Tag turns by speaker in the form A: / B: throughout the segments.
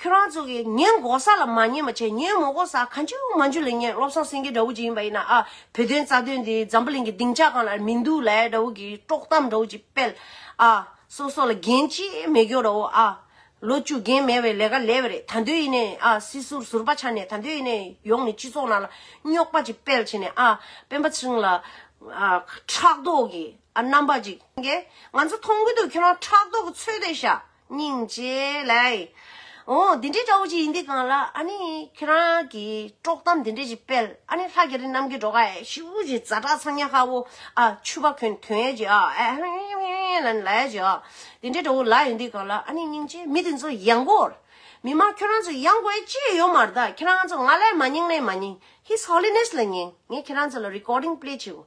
A: ཁྱོད་རང་ཚོ་གིས་ངའི་མགོ་ས་ལ་མ་ཉན་མ་བྱེད་ངའི་མོ་མགོ་ས་གང་ཅུའུ་མ་འཇུ་ལེ་ངས་བློ་བཟང་སེང་གེ་འདྲ་བོ་ཅིག་ཡིན་པ་ཡིན་ན་ཨ་བོད་དོན་རྩ་དོན་འདི་འཛམ་བུ་གླིང་གི་སྡིངས་ཆ་གང་ལ་མི་འདུག་ལ་ཡ་འདྲ་བོ་གིས་དཀྲོག་གཏམ་འདྲ་བོ་ཅིག་སྤེལ་ཨ་སོ་སོ་ལ་འགན་ཅི་མི་འཁྱོག་འདྲ་བོ་ཨ། ལོ་བཅུ་རྒན་མེད་བའི་ལས་ཀ་ལས་བ་རེད་ད་འདོད་ཡིན་ནས་ཨ་སྲིད་ཟུར་ཟུར་པ་ཆགས་ནས་ད་འདོད་ཡིན་ནས་ཡོང་ནས་སྤྱི་ཚོགས་ནང་ལ་རྙོག་པ་ཅིག་སྤེལ་བྱས་ནས་ཨ་སྤེན་པ་ཚིང་ལ་ཨ་ཁྲག་མདོག་གི་ཨ་རྣམ་པ་ཅིག་ངས་ང་ཚོ་མཐོང་གི་འདུག་ཁྱོད་རང་ཁྲག་མདོག་གི་ཚོད་ལྟ་བྱ། སྙིང་རྗེ། ལེགས། འོ་འདི་འདྲའི་དགྲ་བོ་ཅིག་ཡིན་འདི་གང་ལགས་ཨ་ནི་ཁྱེད་རང་གི་དཀྲོག་གཏམ་འདི་འདྲ་ཅིག་སྤེལ་ཨ་ནི་ལྷ་རྒྱ་རི་གནམ་གྱི་འགྲོ་ཁ་ཨེ་ཤི་བོ་ཅིག་རྫ་བྲག་ཚང་ཉག་ཧ་བོ་ཨ་ཆུ་བ་ཁོན་ཁྱོད་ཡས་ཀྱི་ཨ་ཨེ་ཧེ་ཧེ་ཧེ་ཧེ་ལ་ནི་ལ་ཡས་ཀྱི་ཨ་འདི་འདྲའི་དགྲ་བོ་ལགས་ཡིན་འདི་གང་ལགས་ཨ་ནི་སྙིང་རྗེ་མི་དེ་ཚོ་ཡང་དགོས་མི་མ་ཁྱོད་རང་ཚོ་ཡང་དགོས་ཅི་ཡི་ཡོད་མ་རྟགས་ཁྱེད་རང་ཚོ་ང་ལས་མ་སྙིང་ལས་མ་སྙིང His Holiness ལ་སྙིང་ངས་ཁྱེད་རང་ཚོ་ལ Recording Play བྱེད་དགོས་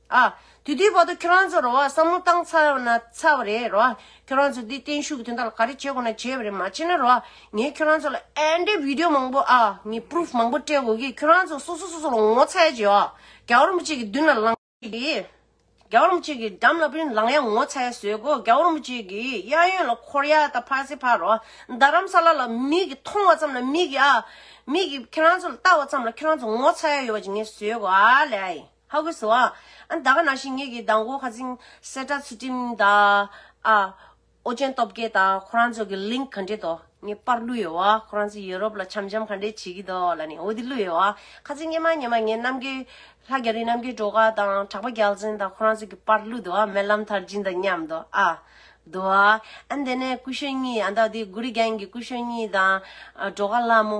A: ཨ། དེ་དུས་བར་དུ་ཁྱོད་རང་ཚོ་རོ་ཨ་བསམ་བློ་བཏང་ཚར་བ་ན་ཚར་བ་རེད་རོ་ཨ། ཁྱོད་རང་ཚོ་འདི་བརྟན་བཞུགས་དེ་འདྲ་ལ་ག་རེ་བྱེད་དགོས་ན་བྱེད་པ་རེད་མ་བྱེད་ན་རོ་ཨ། ངས་ཁྱོད་རང་ཚོ་ལ་ཨེནྡྲའི་བིདེའོ་མང་པོ་ཨ། ངས Proof མང་པོ་སྤྲད་དགོས་གི་ཁྱོད་རང་ཚོ་སོ་སོ་སོ་སོ་ལ་ངོ་ཚ་ཡ་བྱེད་ཨ། རྒྱ་རོམ་བཅས་ཀྱི་མདུན་ལ་ལངས་ཡ་གི། རྒྱ་རོམ་བཅས་ཀྱི་འགྲམ་ལ་བུན་ལངས་ཡ་ངོ་ཚ་ཡ་བཟོས་གོ་རྒྱ་རོམ་བཅས་ཀྱི་གཡས་གཡོན་ལ་འཁོར་ཡ་ད་ཕར་ཚེ་ཕར་རོ་ཨ། རྡ་རམ་ས་ལ་ལ་མིག་གིས་མཐོང་བ་ཙམ་ལ་མིག་གིས་ཨ། མིག་གིས་ཁྱོད་རང་ཚོ་ལ་བལྟ་བ་ཙམ་ལ་ཁྱོད་རང་ཚོ་ངོ་ཚ་ཡ་ཡོད་པ་ཅིག་ངས་བཟོས་གོ་ཨ་ལས་ཨ་ཡིན། ཧ་གོ་སོ་ཨ། ཨ་ད་ག་ན་ཤི་ངེད་ཀྱི་ཟླ་མགོ་ཁ་ཚིང་སེར་ཏྲ་ཚུལ་ཁྲིམས་དང། ཨ། ཨོ་རྒྱན་སྟོབས་རྒྱལ་དང་ཁོ་རང་ཚོ་གི link ག་འདྲེ་དོ་ངས་དཔར་བླུ་ཡོད་བ་ཁོ་རང་ཚོ་ཡུ་རོབ་ལ་འཆམ་འཆམ་ག་འདྲེ་བྱེད་ཀྱི་འདུག་ལ་ནི་འོ་དེ་བླུ་ཡོད་བ་ཁ་ཚིང་སྙེ་མ་སྙེ་མ་ངས་རྣམ་རྒྱལ། ལྷ་རྒྱ་རི་རྣམ་རྒྱལ་གྲོ་ག་དང་གྲགས་པ་རྒྱལ་མཚན་དང་ཁོ་རང་ཚོ་གི་དཔར་བླུ་འདུག་ཨ་སྨན་ལམ་ཐར་སྦྱིན་དང་མཉམ་དུ་ཨ། འདུག་ཨ། ཨ་འདི་ནས་སྐུ་ཞོན་གཉིས་ཨ་ད་དེ་གུ་རི་རྒྱན་གྱི་སྐུ་ཞོན་གཉིས་དང། གྲོ་ག་ལྷ་མོ།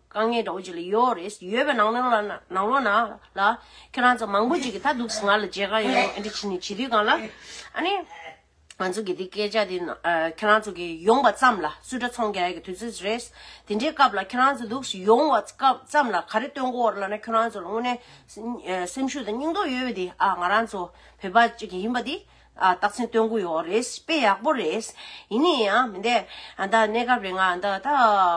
A: དཀའ་ངལ་འདྲ་བོ་ཅིག་ལ་ཡོད་འོ་རེད། ཡོད་པའི་ནང་ནང་ལ། ནང་ལོགས་ན། ལ། ཁྱེད་རང་ཚོ་མང་པོ་ཅིག་གིས་ད་འདུག་ང་ལ་བརྗེད་དཀའ་ཡོད་རེད། འདི་ཕྱི་ནས་བྱེད་དུས་གང་ལ། ཨ་ནི། ང་ཚོ་གི་འདི་སྐད་ཆ་འདི། ཁྱེད་རང་ཚོ་གི་ཡོང་བ་ཙམ་ལ་སུ་འདྲ་ཚོང་རྒྱག་ཡ་གི་དུས་ཚོད་རེད། དེ་འདྲའི་སྐབས་ལ་ཁྱེད་རང་ཚོ་འདུག་ཡོང་བ་སྐབས་ཙམ་ལ་ག་རེ་སྟོན་དགོས་འོ་རེད་ལ་ན་ཁྱེད་རང་ཚོ་ལ་དངོས་གནས། སེམས་ཤུགས་དང་སྙིང་སྟོབས་ཡོད་པ་འདི་ཨ་ང་རང་ཚོ་བོད་པ་ཅིག་ཡིན་པ་འདི། ཨ་རྟགས་མཚན་སྟོན་གི་ཡོད་རེད། དཔེ་ཡག་པོ་རེད། ཡིན་ནའི་ཡང་མི་འདེད། ཨ་ད་གནས་སྐབས་རེ་ང་ད་ད་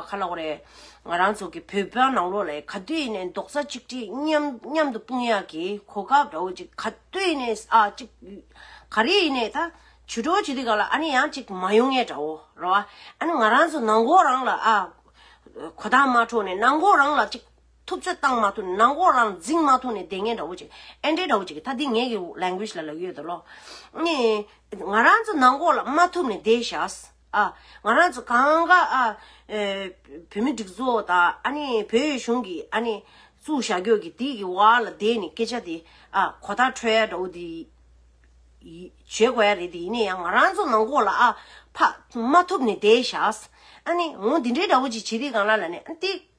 A: ཁ་ལོག་རེད། ང་རང་ཚོ་གི་བོད་པ་ནང་ལོག་ལས་ག་དུས་ནས་རྡོག་རྩ་གཅིག་སྒྲིལ་མཉམ་མཉམ་དུ་དཔུང་ཡག་གི་གོ་སྐབས་འདྲ་བོ་ཅིག་ག་དུས་ནས་ཨ་གཅིག་ག་རེ་ཡིན་ནའི་ད་བྱུས་འགྲོ་བྱེད་དུས་ག་ལ་ཨ་ནི་ཡང་གཅིག་མ་ཡོང་ངེས་འདྲ་བོ་རེད། ཨ་ནི་ང་རང་ཚོ་ནང་འགོག་རང་ལ་ཨ་གོ་ཐང་མ་འཕྲོག་ནས་ནང་འགོག་རང་ལ་གཅིག་ཐུབ་ཚོད་བཏང་མ་ཐུབ་ནང་གོ་རང་འཛིང་མ་ཐུབ་ནས་བདེ་ངན་འདྲ་བོ་ཅིག་ཨེ་འདྲའི་འདྲ་བོ་ཅིག་ད་འདི་ངེད་ཀྱི language ལ་ལ་ཡོད་དོ་ལོ། ནི། ང་རང་ཚོ་ནང་གོ་ལ་མ་ཐུབ་ནས་བསྡད་ཤགས། ཨ། ང་རང་ཚོ་གང་ག་ཨ། བོད་མི་སྒྲིག་འཛུགས་དང་ཨ་ནི་བོད་ཡུལ་གཞུང་གི་ཨ་ནི། བཙུགས་བཞག་རྒྱོ་གི་དེ་གི་བར་ལ་བསྡད་ནས་སྐད་ཆ་དེ་ཨ་གོ་ལྟ་འཕྲོད་ཡ་འདྲ་བོ་དེ། བྱེད་དགོས་ཡ་རེད་དེ་ཡིན་ནའི་ཡང་ང་རང་ཚོ་ནང་གོ་ལ་ཨ། ཕ། མ་ཐུབ་ནས་བསྡད་ཤགས། ཨ་ནི། འོ་འདི་འདྲའི་འདྲ་བོ་ཅིག་བྱེད་དེ་གང་ལ་ལ་ནི་ཨ་འདི།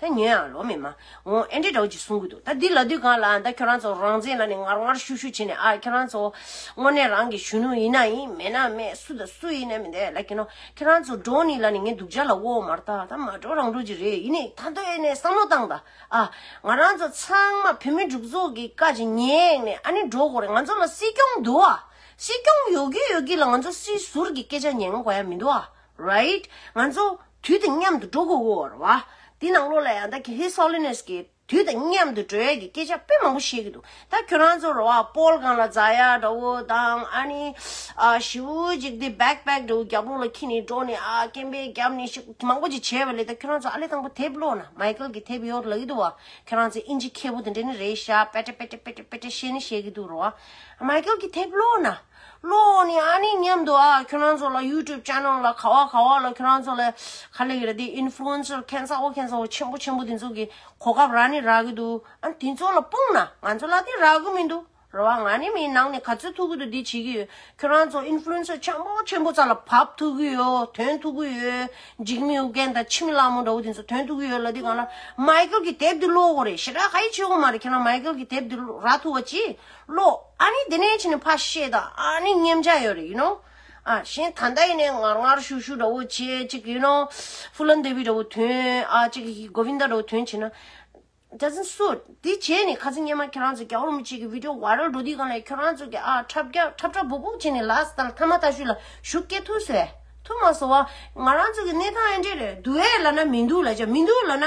A: ད་ཉོན་ཡང་ལོ་མི་མ་འོང་ཨེ་འདྲས་འདྲ་བོ་ཅིག་གསུང་གི་འདུག་ད་འདི་ལ་དུས་གང་ལ་ད་ཁྱོད་རང་ཚོ་རང་བཙན་ལ་ནི་ངར་ངར་ཤུག་ཤུག་བྱེད་ནས་ཨ་ཁྱོད་རང་ཚོ་དངོས་གནས་རང་གི་གཞོན་ནུ་ཡིན་ན་ཡིན་མེད་ན་མེད་སུ་དང་སུ་ཡིན་ན་མི་འདས་ལ་ཀྱི་ནོ་ཁྱོད་རང་ཚོ་འགྲོ་ནི་ལ་ནི་ངའི་སྡུག་ཅག་ལ་དབོ་མར་ད་ད་མ་འགྲོ་རང་འགྲོ་ཅིག་རེད་ཡིན་ནི་ད་འདོད་ནས་བསམ་བློ་བཏང་ད་ཨ་ང་རང་ཚོ་ཚང་མ་བོད་མི་འབྲུག་ཚོགས་ཀྱི་བཀའ་ཅིག་ཉེས་ནས་ཨ་ནི་འགྲོ་དགོ་རེད་ང་ཚོ་ལ་སྲིད་སྐྱོང་འདུག་ཨ་སྲིད་སྐྱོང་ཡོད་གི་ཡོད་གི་ལ་ང་ཚོ་སྲིད་ཟུར་གྱི་སྐད་ཆ་ཉན་དགོ་ཡ་མི་འདུག་ཨ right ང་ཚོ། དུས་དང་མཉམ་དུ་འགྲོ་དགོས་འོར་བ། དེ་ནང་ལོགས་ལ་ཡང་ད་གེ་ཧེ་སོ་ལེ་ནོས་ཀྱིས་དུས་དང་མཉམ་དུ་འགྲོ་ཡ་གི་སྐད་ཆ་དཔེ་མང་པོ་བཤད་གི་འདུག་ད་ཁྱོད་རང་ཚོ་རོ་ཨ་པོལ་གང་ལ་རྫ་ཡ་འདྲ་བོ་དང་ཨ་ནི་ཨ་ཞི་བོ་ཅིག་དེ་བེག་བེག་འདྲ་བོ་རྒྱབ་ལོགས་ལ་ཁྱི་ནས་འགྲོ་ནས་ཨ་ཀེམ་པའི་རྒྱབ་ནས་ཤིག་མང་པོ་ཅིག་བྱས་པ་ལས་ད་ཁྱོད་རང་ཚོ་ཨ་ལེ་དང་པོ་དེབ་ཀློག་ན་མཱེ་ཀལ་གི་དེབ་ཡོད་ལ་གི་འདུག་བ་ཁྱོད་རང་ཚོས་དབྱིན་ཇི་མཁས་པོ་དེ་འདྲ་ནི་རེད་ཤག་པེ་ཏྲེ་པེ་ཏྲེ་པེ་ཏྲེ་པེ་ཏྲེ་བཤད་ནི་བཤད་གི་འདུག་རོ་ཨ་མཱེ་ཀལ་གི་དེབ་ཀློག་ན། ལོ་འོག་ནས་ཨ་ནེ་མཉམ་དུ་ཨ་ཁྱོད་རང་ཚོ་ལ YouTube channel ལ་ག་བ་ག་བ་ལ་ཁྱོད་རང་ཚོ་ལ་ག་ལེ་གི་རེད་དེ Influencer ཁན་ཚ་བོ་ཁན་ཚ་བོ་ཆེན་པོ་ཆེན་པོ་དེ་ཚོ་གི་གོ་སྐབས་རག་ནི་རག་གི་འདུག་ཨ་དེ་ཚོ་ལ་སྤུངས་ན་ང་ཚོ་ལ་དེ་རག་གི་མི་འདུག་རེད་བ་ང་ནི་མི་ནང་ནས་ག་ཚོད་ཐུག་གི་འདུག་དེ་བྱེད་གི་ཡོད་ཁྱོད་རང་ཚོ Influencer ཆེན་པོ་ཆེན་པོ་ཚ་ལ་བབ་ཐུག་གི་ཡོད་དོན་ཐུག་གི་ཡོད་འཇིགས་མི་ཨུ་རྒན་དང་ཕྱི་མི་གླ་མོ་འདྲ་བོ་དེ་ཚོ་དོན་ཐུག་གི་ཡོད་ལ་དེ་གང་ལ Michael གི་དེབ་དེ་ཀློག་གོ་རེད་ཞེ་དྲག་ཧ་ཡིག་ཆོད་གི་མ་རེད་ཁྱོད་རང Michael གི་དེབ་དེ་རག་ཐུག་བ་ཅི་བློ། ཨ་ནི་དེ་ནས་ཕྱིན་ནས་ཕ་བཤད་དང་ཨ་ནི་མཉམ་བྱ་ཡོད་རེད་ཡིན་ནོ། ཨ་གཞན་ད་ལྟ་ཡིན་ནས་ངར་ངར་ཤུག་ཤུག་འདྲ་བོ་བྱེད་ཅིག་ཡིན་ནོ། ཧྥུ་ལན་དེ་བི་འདྲ་བོ་དོན་ཨ་ཅིག་གིས་གི་གོ་བི་འདའ་འདྲ་བོ་དོན་བྱེད་ན། རྒྱ་ཟིན་སུ། དེ་བྱས་ནས་ཁ་ཟིན་སྙེ་མ་ཁྱོད་རང་ཚོ་རྒྱ་བོར་མི་བྱེད་གི་བིདེའོ་བྷ་རལ་འགྲོ་དུས་གང་ལས་ཁྱོད་རང་ཚོ་གི་ཨ་འཁྲབ་རྒྱ་འཁྲབ་འཁྲབ་སྦུག་སྦུག་བྱས་ནས་ལགས་ད་ལ་ཐ་མ་ད་ཤུ་ལ་ཞུགས་སྐད་ཐུག་སོད་ཐུག་མ་སོ་བ། ང་རང་ཚོ་གི་གནས་སྟངས་ཨེ་འདྲས་རེད་འདུག་ཨེ་ལ་ན་མི་འདུག་ལ་ཅག་མི་འདུག་ལ་ན།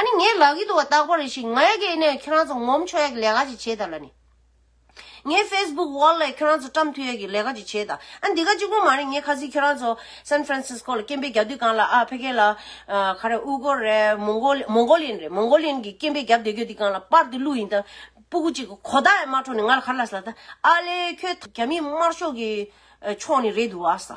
A: ཨ་ནི་ངའི་ལག་གི་དུ་བ་བཏགས་པ་རེ་ཞིག་ང་ཡག་གི་ཨེ་ནས་ཁྱོད་རང་ཚོ་ངོམ་ཆོག་ཡག་གི་ལས་ཀ་ཅིག་བྱེད་ད་ལ་ནི། ངའི facebook wall ལས་ཁྱོད་རང་ཚོ་བཀྲམ་མཐུ་ཡག་གི་ལས་ཀ་ཅིག་བྱེད་ད་ཨ་འདི་ག་གཅིག་པོ་མ་རེད་ངས་ཁ་ཟིག་ཁྱོད་རང་ཚོ San Francisco ལ་སྐྱེན་པའི་རྒྱ་དུས་གང་ལ་ཨ་ཕེ་གྷལ་ལ་ག་རེ་ཨུ་གོར་རེད Mongolian རེད Mongolian གི་སྐྱེན་པའི་རྒྱབ་སྡེ་གྱོད་དུས་གང་ལ་པར་དུ་བླུགས་ཡིན་ད་སྤུ་གུ་གཅིག་གི་གོ་བརྡ་ཡང་མ་འཕྲོ་ནས་ང་ལ་ག་རེ་ལ་ཟ་ད་ཨ་ལེ་ཁྱོད་རྒྱ་མི་དམར་ཤོག་གི་ཕྱོགས་ནས་རེད་འདུག་ཨ་ཟ།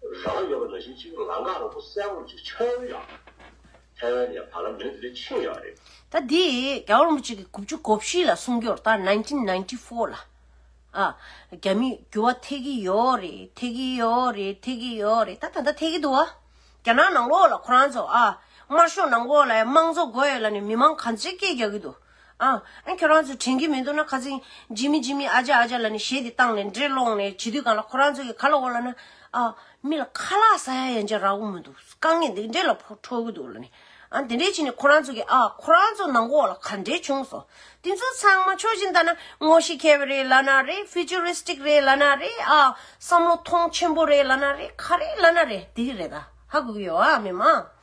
B: རང་ཡོད་པ་ལ་ཡིད་ཆེས་ལང་ཀ་རང་པོ་གསལ་བོར་གཅིག་ཆོད་ཡོད་ཡག་རེད། ཐའེ་ཝན་ནས་བར་ལམ་མི་འདི་འདྲ་ཕྱིན་ཡག་རེད། ད་འདི་
A: རྒྱ་བོད་རིན་པོ་ཆེ་གི་དགུ་བཅུ་གོ་བཞི་ལ་སྲུང་སྐྱོར་ད nineteen ninety four ལ་ཨ་རྒྱ་མི་འགྱུར་བ་ཐེག་གི་ཡོད་རེད་ཐེག་གི་ཡོད་རེད་ཐེག་གི་ཡོད་རེད་ད་ད་ལྟ་ཐེག་གི་འདུག་ཨ། རྒྱ་ནག་ནང་ལོགས་ལ་ཁོ་རང་ཚོ་ཨ། དམར་ཤོག་ནང་ཁོག་ལ་དམངས་གཙོ་དགོས་ཡོད་ལ་ནི་མི་མང་ག་ཚོད་སྐད་རྒྱག་གི་འདུག་ཨང། ཁྱོད་རང་ཚོས་དྲན་གྱི་མི་འདུག་ན་ཁ་རྩིང། ཇི་མི་ཇི་མི་ཨ་ཅག་ཨ་ཅག་ལ་ནི་ཞེས་དེ་བཏང་ནས་འདྲེ་སློང་ནས་བྱིས་དུས་གང་ལ་ཁོ་རང་ཚོ་གི་ཁ་ལ་འོ་ལ་ན། མི་ལ་ཁ་ལག་ཟ་ཡ་ཡན་ཆད་རག་གི་མི་འདུག་དཀའ་ངལ་འདི་འདྲེ་ལ་ཕོག་འཕྲོག་གི་འདུག་ལ་ནི། ཨང། དེ་འདྲས་བྱས་ནས་ཁོ་རང་ཚོ་གི་ཨ་ཁོ་རང་ཚོ་ནང་འོག་ལ་ག་འདྲས་བྱུང་སོང། དེ་ཚོ་ཚང་མ་ཕྱོགས་བཞི་འདའ་ན་ངོ་ཤེས་མཁས་པ་རེད་ལ་ན་རེ Futuristic རེད་ལ་ན་རེ་བསམ་བློ་ཐོང་ཆེན་པོ་རེད་ལ་ན་རེ་ག་རེ་ལ་ན་རེ་དེ་གི་རེད་ད་ཧ་གོ་གི་ཡོད་ཨ་མི་མང།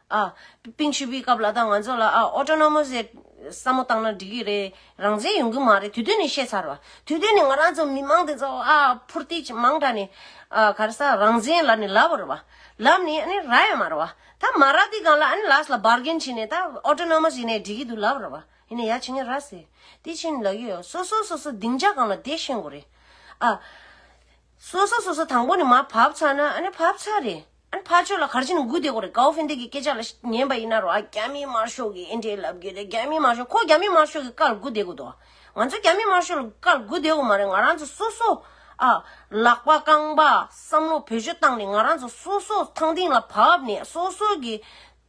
A: ཨ། པིན་ཆུ་བོའི་སྐབས་ལ་དྭགས་ང་ཚོ་ལ་ཨ། Autonomous Act། བསམ་བློ་བཏང་ན་འགྲིག་གི་རེད། རང་བཙན་ཡོང་གི་མ་རེད་དུས་དོན་ནས་བཤད་ཚར་བ། དུས་དོན་ནས་ང་རང་ཚོ་མི་མང་འདི་ཚོ་ཨ། ཕུར་ཏི་ཅི་མང་དྲགས་ནས། ཨ། ག་རེ་ས་རང་བཙན་ལབ་ནས་ལབ་རུ་བ། ལབ་ནས་ཨ་ནི་ར་ཡང་མ་རུ་བ། ད་མ་ར་དེ་གང་ལ་ཨ་ནི་ལགས་ལ Bargain བྱས་ནས་ད Autonomous ཡིན་ནའི་འགྲིག་གི་འདུག་ལབ་རུ་བ། ཡིན་ནའི་ཡ་བྱེད་ངན་ར་ཟེ། དེ་བྱས་ནས་ལ་ཡོད། སོ་སོ་སོ་སོ་སྡིངས་ཆ་གང་ལ་དེ་ཤེས་དགོས་རེད། ཨ། སོ་སོ་སོ་སོ་དང་པོ་ནས་མ་བབས་ཚར་ན་ཨ་ནི་བབས་ཚར་རེད་ཨ་ནི་ཕར་ཆོད་ལ་གར་ཆེན་ནི་མགུ་བདེ་གོ་རེད་ཀའོ་ཧྥེ་འདེ་གི་སྐད་ཆ་ལ་ཉན་པ་ཡིན་ན་རོ་ཨ་རྒྱ་མིའི་དམར་ཤོག་གི་ཨེ་འདྲའི་ལབ་གི་རེད་རྒྱ་མིའི་དམར་ཤོག་ཁོ་རྒྱ་མིའི་དམར་ཤོག་གི་བཀའ་ལ་མགུ་བདེ་གོ་འདུག་ང་ཚོ་རྒྱ་མིའི་དམར་ཤོག་ལ་བཀའ་ལ་མགུ་བདེ་གོ་མ་རེད་ང་རང་ཚོ་སོ་སོ་ཨ་ལག་པ་རྐང་པ་བསམ་བློ་བེད་སྤྱོད་བཏང་ནས་ང་རང་ཚོ་སོ་སོ་ཐང་སྟེང་ལ་བབས་ནས་སོ་སོ་གི།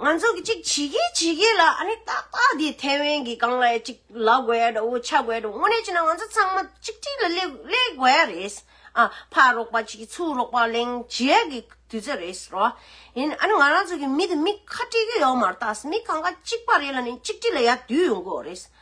A: ང་ཚོ་གཅིག་བྱེད་ཀྱི་བྱེད་ཀྱི་ལ་ཨ་ནི་ཏག་ཏག་དེ་ཐའེ་དབན་གྱི་སྒང་ལ་ཅིག་ལ་དགོས་ཡ་འདྲ་བོ་ཆགས་དགོས་ཡ་འདྲ་བོ་དངོས་གནས་བྱས་ན་ང་ཚོ་ཚང་མ་གཅིག་སྒྲིལ་ལ་སླེབས་དགོས་ཡ་རེད། ཨ་ཕར་རོགས་པ་བྱེད་ཀྱི་ཚུར་རོགས་པ་གླེང་བྱེད་ཡ་གི་དུས་ཚོད་རེད་རོ། ཡིན་ཨ་ནི་ང་རང་ཚོ་གི་མི་དེ་མི་ཁ་སྤྲད་ཀྱི་ཡོད་མ་རྟགས་མི་གང་ག་གཅིག་པ་རེད་ལ་ནི་གཅིག་སྒྲིལ་ལ་ཡ་དུས་ཡོང་དགོས་རེད།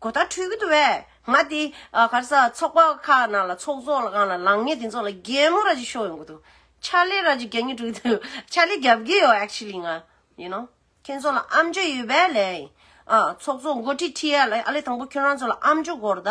A: གོ་བརྡ་འཕྲོད་ཀྱི་འདུག་བས། ང་དེ། གར་ས་ཚོགས་པ་ཁག་ནང་ལ་ཚོགས་ཚོགས་ལ་གང་ལ་ལངས་ངེས་དེ་ཚོ་ལ་རྒྱལ་མོ་ར་ཅིག་ཤོག་ཡོང་གི་འདུག་ཕྱག་ལས་ར་ཅིག་རྒྱབ་ངེས་འདུག་ཕྱག་ལས་རྒྱབ་ཀྱི་ཡོད actually ང་ཡིན་ནོ། ཁྱོད་ཚོ་ལ་ཨམ་ཅོ་ཡོད་པས་ལན། ཨ། ཚོགས་ཚོགས་མགོ་ཁྲིད་ཁྲིད་ཡ་ལ་ཨ་ལས་དང་པོ་ཁྱོད་རང་ཚོ་ལ་ཨམ་ཅོ་གོ་བརྡ།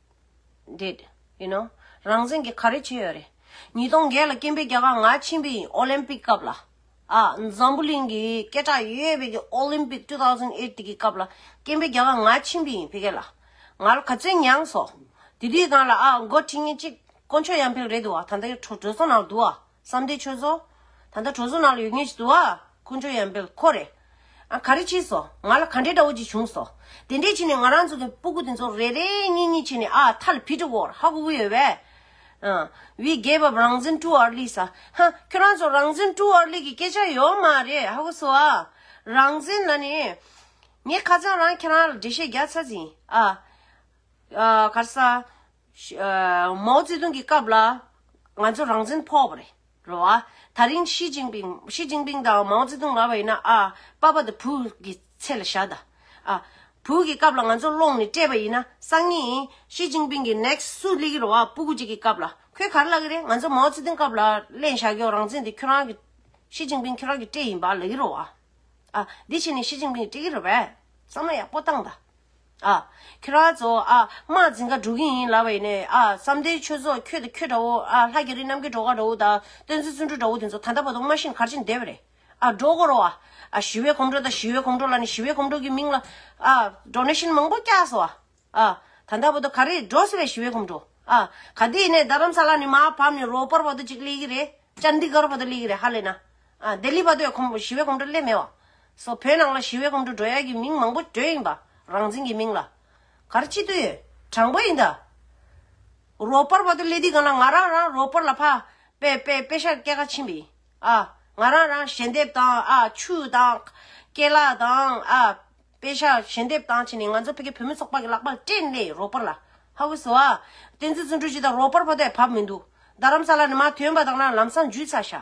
A: འདེད། རང་བཙན་གྱི་ག་རེ་བྱས་ཡོད་རེད། ཉིས་སྟོང་བརྒྱད་ལ་སྐྱེས་འཕེལ་རྒྱ་གར་ང་ཕྱིན་པའི་ཨོ་ལེམ་པིག་སྐབས་ལ། འཛམ་བུ་གླིང་གི་སྐད་གྲགས་ཡོད་ཡོད་པའི་ཨོ་ལེམ་པིག་ཏུ་ཐའོ་ཟན་ཨེརྟི་གི་སྐབས་ལ་སྐྱེས་འཕེལ་རྒྱ་གར་ང་ཕྱིན་པའི་བྷི་གྷལ་ལ། ང་ལ་ག་ཚོད་མྱངས་སོང། དེ་དུས་སྒང་ལ་ཨ་མགོ་ཁྲི་ངན་གཅིག་དཀོན་མཆོག་ཡར་འཕེལ་རེད་འདུག་བ་ད་ལྟ་ཡོད་འགྲོ་སོང་ན་འདུག་བ། བསམ་བདེ་ཆོས་བཟོ། ད་ལྟ་གྲོ་བཟོ་ནང་ལ་ཡོད་མཁན་ཞིག་འདུག་ཨ། ཁོ་འཇོ་ཡང་འབེལ་ཁོ་རེད། ཨ་ག་རེ་བྱས་སོ། ང་ལ་ག་འདྲའི་དགྲ་བོ་ཅིག་བྱུང་སོ། དེ་འདྲས་བྱས་ནས་ང་རང་ཚོ་དེ་སྤུ་གུ་དེ་ཚོ་རེ་རེ་གཉིས་གཉིས་བྱས་ནས་ཨ་ཨ་ཐ་ལ་བྷི་ཏྲི་ཝོར་ཧ་གུ་གུ་ཡོད་བས། ཨ། བི་རྒྱལ་བབ་རང་བཙན་དཀྲུག་ཨར་ལི་ས། ཧ། ཁྱོད་རང་ཚོ་རང་བཙན་དཀྲུག་ཨར་ལི་གི་སྐད་ཆ་ཡོད་མ་རེད་ཧ་གོ་སོ་ཨ། རང་བཙན་ལ་ནི། ངས་ཁ་རྩང་རང་ཁྱེད་རང་ལ་འགྲེལ་བཤད་རྒྱག་ཚར་ཟིན་ཨ། ཨ། ག་རེ་ས། མའོ་ཙེ་ཏུང་གི་སྐབས་ལ་ང་ཚོ་རང་བཙན་ཕོག་པ་རེད་རེད་བ། ད་རིང་ཤི་ཅིང་པིང་ཤི་ཅིང་པིང་དང་མའོ་ཙེ་ཏུང་ལ་བས་ན་ཨ་པ་པ་དང་བུ་གི་ཚེ་ལ་བཞག་ད། ཨ་བུ་གི་སྐབས་ལ་ང་ཚོ་སློང་ནས་སྤྲད་པ་ཡིན་ན་སང་ཉིན་ཤི་ཅིང་པིང་གི next སུ་སླེ་གི་རེད་བ་སྤུ་གུ་གཅིག་གི་སྐབས་ལ་ཁོས་ག་རེ་ལབ་གི་རེད་ང་ཚོ་མའོ་ཙེ་ཏུང་སྐབས་ལ་གླེང་བཞག་གི་རང་བཙན་དེ་ཁྱོད་རང་གི་ཤི་ཅིང་པིང་ཁྱོད་རང་གི་སྤྲད་ཡིན་པ་ལབ་གི་རེད་བ། ཨ་འདི་བྱས་ནས་ཤི་ཅིང་པིང་སྤྲད་གི་རེད་བས་བསམ་བློ་ཡག་པོ་བཏང་ད། ཨ། ཁྱོད་རང་ཚོ་ཨ། དམག་འཛིན་མཁའ་འགྲོ་གི་ཡིན་ལབ་པ་ཡིན་ནས་ཨ། བསམ་གཏན་ཆོས་ཚོགས་ཁྱོད་དང་ཁྱོད་འདྲ་བོ་ཨ། ལྷ་རྒྱ་རི་རྣམ་རྒྱལ་གྲོག་མཁར་འདྲ་བོ་དང། སྟོན་རྩེ་བཙུན་འགྲུལ་འདྲ་བོ་དེ་ཚོ་ད་ལྟ་བར་དུ་སྨྲ་བཞིན་གར་བཞིན་བསྡད་པ་རེད་ཨ། འགྲོ་གོ་རོགས་ཨ། ཨ། ཞི་བའི་གོམ་འགྲོ་དང་ཞི་བའི་གོམ་འགྲོ་ལ་ནི་ཞི་བའི་གོམ་འགྲོ་གི་མིང་ལ་ཨ། འགྲོ་ནས་ཤིན་མང་པོ་སྐྱགས་སོ་ཨ། ཨ། ད་ལྟ་བར་དུ་ག་རེད་འགྲོ་ཟེར་བའི་ཞི་བའི་གོམ་འགྲོ་ཨ། ག་དེ་ཡིན་ནས་རྡ་རམ་ས་ལ་ནི་མ་བབས་ནས་རོ་སྤར་བར་དུ་ཅིག་སླེ་གི་རེད། ཅཱནྡི་གར་བར་དུ་སླེ་གི་རེད་ཧ་ལས་ན། ལྡི་ལི་བ་དོད་ཁོམ་ཞི་བའི་གོམ་བགྲོད་སླད་མེད་བ། སོགས་བོད་ནང་ལ་ཞི་བའི་གོམ་བགྲོད་བགྲོད་ཡ་གི་མིང་མང་པོ་བགྲོད་ཡིན་པ་རང་འཛིན་གི་མིང་ལ། གར་སྤྱི་དུ་ཡོད་དྲང་པོ་ཡིན་ད། རོག་པར་བ་དོད་སླད་དུས་གང་ན་ང་རང་རང་རོག་པར་ལ་ཕ། པེ་པེ་པེ་ཤར་སྐད་ག་ཆིན་པི། ཨ། ང་རང་རང་ཞལ་འདེབས་དང་ཨ་ཆུ་དང། ཀ། སྐད་ལ་དང་ཨ། པེ་ཤ་ཞལ་འདེབས་དང་བྱས་ནས་ང་ཚོ་ཕེ་ཁེ་བོད་མི་ཚོགས་པ་གི་ལག་པར་སྤྲད་སླད་རོག་པར་ལ་ཧ་ཧུ་སོ་ཨ། བསྟན་འཛིན་བརྩོན་འགྲུས་ཀྱིས་ད་རོག་པར་བ་དོད་བབ་མི་འདུག་ད་རམ་ས་ལ་ནི་མ་ཐོན་པ་དང་ན་ལམ་སང་འཇུས་ཚ་ཤ།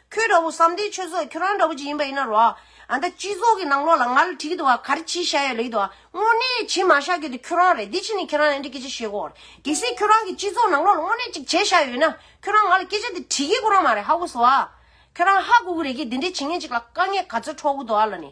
A: ཁྱོད་འདྲ་བོ་བསམ་སྡེའི་ཆོས་ཚོགས་ཁྱོད་རང་འདྲ་བོ་ཅིག་ཡིན་པ་ཡིན་ན་རོགས་ཨ། ཨ་མདའ་སྤྱི་ཚོགས་ཀྱི་ནང་ལོགས་ལ་ང་ལ་དྲིས་ཀྱི་འདུག་ཨ་ག་རེ་བྱེད་བཞག་ཡོད་ལེ་ཡི་འདུག་ཨ། དངོས་གནས་བྱེད་མ་བཞག་གི་འདུག་ཁྱོད་རང་རེད་འདི་ཕྱི་ནས་ཁྱེད་རང་ལ་འདྲི་སྐད་ཆ་བཤད་དགོས་རེད། གལ་སྲིད་ཁྱོད་རང་གིས་སྤྱི་ཚོགས་ནང་ལོགས་ལ་དངོས་གནས་ཅིག་བྱེད་བཞག་ཡོད་ན། ཁྱོད་རང་ང་ལ་སྐད་ཆ་འདི་དྲིས་ཀྱི་དགོས་རང་མ་རེད་ཧ་གོ་སོ་ཨ། ཁྱོད་རང་ཧ་གོ་གི་རེད་ཀྱི་འདི་འདྲའི་བྱེད་ངན་ཅིག་ལ་དཀའ་ངལ་ག་ཚོད་འཕྲོག་གི་འདུག་ཨ་ལ་ནི།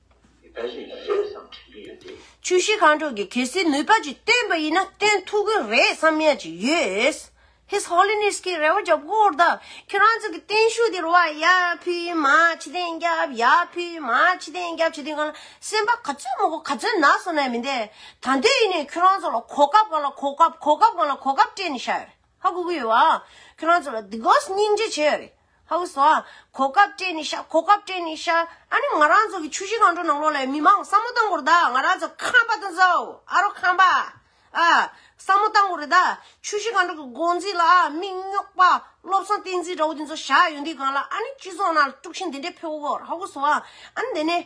B: ཆུ་བཞི་ཁང་དྲུག་གི་
A: གལ་སྲིད་ནུས་པ་ཅིག་བཏོན་པ་ཡིན་ན་བཏོན་ཐུབ་ཀྱི་རེད་བསམ་ཡ་ཅིག་ཡོད། His Holiness གིས་རེ་བ་བརྒྱབ་སྐོར་དང་ཁྱེད་རང་ཚོ་གི་བརྟན་བཞུགས་འདིར་བ་ཡ་ཕུལ་མ་ཕྱི་དེང་རྒྱབ་ཡ་ཕུལ་མ་ཕྱི་དེང་རྒྱབ་བྱེད་དུས་གང་ལ་སེམས་པ་ག་ཚོད་མོ་གོ་ག་ཚོད་ན་སོང་ན་མི་འདེ། ད་འདོད་ཡིན་ནས་ཁྱོད་རང་ཚོ་ལ་གོ་སྐབས་གང་ལ་གོ་སྐབས་གོ་སྐབས་གང་ལ་གོ་སྐབས་སྤྲད་ནས་བཞག་ཡོད་ཧ་གོ་གི་ཡོད་བ། ཁྱོད་རང་ཚོ་ལ་དི་གོས་སྙིང་རྗེ་བྱས་ཡོད་རེད། ཧཱུྃ་བཟླ། གོ་སྐབས་སྤྲད་ནས་བཤགས་གོ་སྐབས་སྤྲད་ནས་བཤགས། ཨ་ནི་ང་རང་ཚོ་གི་ཆུ་བཞི་སྒང་དྲུག་ནང་ལོགས་ལས་མི་མང་བསམ་བློ་བཏང་གོ་རེ་ད་ང་རང་ཚོ་ཁམས་པ་དང་ཛའོ་ཨ་རོ་ཁམས་པ་ཨ། བསམ་བློ་བཏང་གོ་རེ་ད་ཆུ་བཞི་སྒང་དྲུག་གི་འགོ་འཛིན་ལ་ཨ་མིག་རྙོག་པ་བློ་བཟང་བསྟན་འཛིན་འདྲ་བོ་དེ་ཚོ་བཞག་ཡོད་འདི་གང་ལ་ཨ་ནི་སྤྱི་ཚོགས་ནང་དཀྲུག་ཤིང་འདི་འདྲས་ཕེ་བོ་བོར་ཧཱུྃ་བཟླ། ཨ་ནི་དེ་ནས།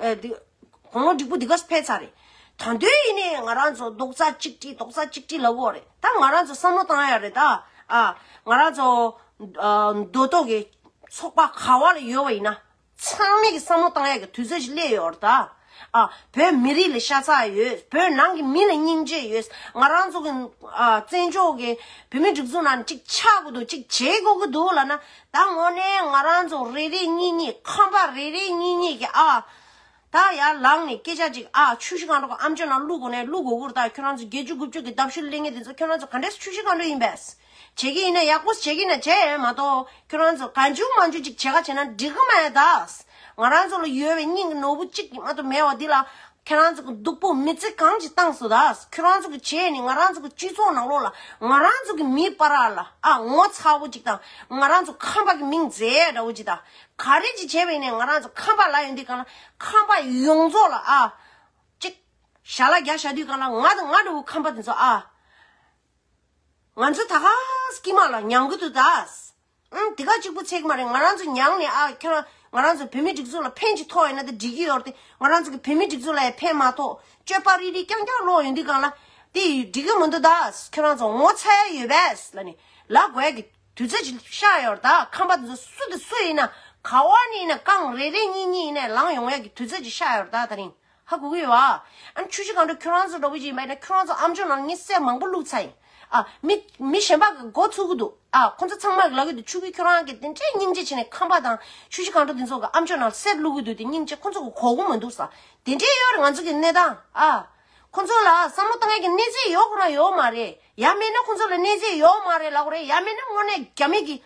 A: ཨ། འདི། གོང་མ་འགྲིག་པོ་འདི་ག་སུ་ཕེབས་ཚར་རེད། ད་འདོད་ཡིན་ནའི་ང་རང་ཚོ་རྡོག་རྩ་གཅིག་སྒྲིལ་རྡོག་རྩ་གཅིག་སྒྲིལ་ལབ་འོག་རེད་ད། ང་རང་ཚོ་བསམ་བློ་བཏང་ཡག་རེད་ད། ཨ། ང་རང་ཚོ། མདོ་སྟོད་ཀྱི། ཚོགས་པ་ག་བ་ལ་ཡོད་པ་ཡིན་ན། ཚང་མས་ཀྱི་བསམ་བློ་བཏང་ཡག་གི་དུས་ཚོད་ཅིག་སླེབས་ཡོད་རེད་ད། ཨ། བོད་མི་རིགས་ལ་ཤ་ཚ་ཡོད། བོད་ནང་གི་མི་ལ་སྙིང་རྗེ་ཡོད། ང་རང་ཚོ་གི། ཨ། བཙན་བྱོལ་གྱི། བོད་མིའི་སྒྲིག་འཛུགས་ནང་གཅིག་ཆགས་དགོས་འདུག་གཅིག་བྱེད་དགོས་ཀྱི་འདུག་ལ་ན། ད་ངོ་ནས་ང་རང་ཚོ་རེ་རེ་གཉིས་གཉིས་ཁམས་པ་རེ་རེ་གཉིས་གཉིས་ཀྱིས་ཨ། ད་ཡར་ལངས་ནས་སྐད་ཆ་གཅིག་ཨ་ཆུ་བཞི་གང་འགྲོ་གི་ཨམ་ཆུ་ནང་བླུག་གོ་ནས་བླུག་གོ་འུར་ད་ཁྱོད་རང་ཚོ་བརྒྱད་ཅུ་དགུ་བཅུ་གི་ལྡབ་ཤུལ་གླེང་མཁན་དེ་ཚོ་ཁྱོད་རང་ཚོ་ག་འདྲས་སུ་ཆུ་བཞི་གང་འགྲོ་ཡིན་པས། བྱེད་ཀྱི་ཡིན་ན་ཡག་པོ་བྱེད་ཀྱི་ན་བྱེད་མ་གཏོགས་ཁྱོད་རང་ཚོ་ག་འཇུག་མ་འཇུག་ཅིག་བྱེད་ཁ་བྱེད་ན་འགྲིག་གི་མེད་དཱ། ང་རང་ཚོ་ལ་ཡོད་པའི་སྙིང་གི་ནོར་བུ་གཅིག་གིས་མ་ཏོ་མེད་བ་འདི་ལ་ཁྱེད་རང་ཚོ་གི་སྡུག་པོ་མི་ཚེ་གང་ཅིག་བཏང་སོ་དྭགས་ཁྱོད་རང་ཚོ་གི་བྱས་ནས་ང་རང་ཚོ་གི་སྤྱི་ཚོགས་ནང་ལོགས་ལ་ང་རང་ཚོ་གི་མིའི་པ་རག་ལ་ཨ་ངོ་ཚ་བོ་གཅིག་དང་ང་རང་ཚོ་ཁམས་པ་གི་མིང་མཛེས་ཡས་འདྲ་བོ་གཅིག་དང་ག་རེ་གཅིག་བྱས་པས་ནས་ང་རང་ཚོ་ཁམས་པ་ལ་ཡོད་འདི་གང་ལ་ཁམས་པ་ཡོངས་རྫོགས་ལ་ཨ། ཅིག། ཞྭ་ལ་རྒྱ་ཞྭ་དུས་གང་ལ་ང་དང་ང་འདྲ་བོ་ཁམས་པ་དེ་ཚོ་ཨ། ང་ཚོ་དྭགས་ཀྱི་མ་ལ་ཉང་གི་དུ་དྭགས། ཨང། དེ་ག་གཅིག་པུ་ཚེག་མ་རེད་ང་རང་ཚོ་མྱངས་ནས་ཨ་ཁྱོད་རང་ང་རང་ཚོ་བོད་མིའི་སྒྲིག་འཛུགས་ལ་ཕན་ཅིག་ཐོགས་ཡོད་ན་དེ་འགྲིག་གི་ཡོད་རེད་ང་རང་ཚོ་གི་བོད་མིའི་སྒྲིག་འཛུགས་ལ་ཡང་ཕན་མ་ཐོགས་སྤྱོད་པ་རིག་རིག་རྐྱང་རྐྱང་ལོག་ཡོད་འདུག་གང་ལ་དེ་འགྲིག་གི་མི་འདུག་ད་ཁྱོད་རང་ཚོ་ངོ་ཚ་ཡ་ཡོད་པས་ལ་ནི་ལ་དགོས་ཀི་དུས་ཚོད་ཅིག་ཤར་ཡོད་རེད་ད་ཁམས་པ་དེ་ཚོ་སུ་དེ་སུ་ཡིན་ན་ག་བ་ནས་ཡིན་ན་རྐང་རེ་རེ་གཉིས་གཉིས་ཡིན་ན་ལངས་ཡོང་ཡ་གི་དུས་ཚོད་ཅིག་ཤར་ཡོད་རེད་ད་ད་རིང་ཧ་གོ་གི་ཡོད། ཨ་ཆུ་བཞི་གང་འགྲོ་ཁྱོད་རང་ཚོ་འགྲོ་གི་ཡིན་པ་ཡིན་ན་ཁྱོད་རང་ཚོ་ཨམ་ཆུ་ནང་གཉིད་སད་མང་པོ་བླུགས་ཚར་ཡིན། ཨ་མི་མི་གཞན་པ་གི་འགོ་ཚུགས་གི་འདུག་ཨ་ཁོ་ཚོ་ཚང་མ་གི་ལག་གི་འདུག་ཆུ་ཁུལ་ཁྱོད་རང་གི་དེ་འདྲའི་སྙིང་རྗེ་ཆེ་ནས་ཁམས་པ་དང་ཆུ་བཞི་གང་འགྲོ་དེ་ཚོ་གི་ཨམ་ཆུ་ནང་སད་བླུགས་གི་འདུག་དེ་སྙིང་རྗེ་ཁོ་ཚོ་གི་གོ་གི་མི་འདུག་ས་དེ་འདྲའི་ཡོད་རེད་ང་ཚོ་གི་གནས་སྟངས་ཨ། ཁོ་ཚོ་ལ་བསམ་བློ་གཏང་མཁན་གི་གནས་ཚད་ཡོད་ཁོ་ན་ཡོད་མ་རེད་ཡ་མེད་ན་ཁོ་ཚོ་ལ་གནས་ཚད་ཡོད་མ་རེད་ལབ་གི་རེད་ཡ་མེད་ན་དངོས་གནས་རྒྱ་མེད་ཀྱི།